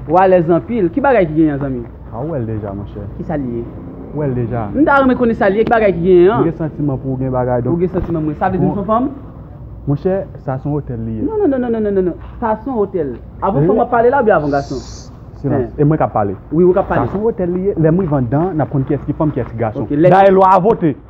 Wou alèz anpil, ki bagay ki genyen zanmi? Ah ou wèl deja monchè. Ki sa li ye? Ou wèl deja. M ta renmen konnen sa li ye, ki bagay ki genyen an. M gen santiman pou ou gen bagay donk. Ou gen santiman pou mwen. Sa vle di m son fanm? Monchè, sa son otèl li ye. Non non non non non. Sa son otèl. Avan fanm w ap pale la oubyen avan gason? Silans. E mwen k ap pale. Wi ou k ap pale. Sa son otèl li ye. Lè m rive anndan an, n ap konn kiyès ki fanm, kiyès ki gason. Dayè lwa a vote.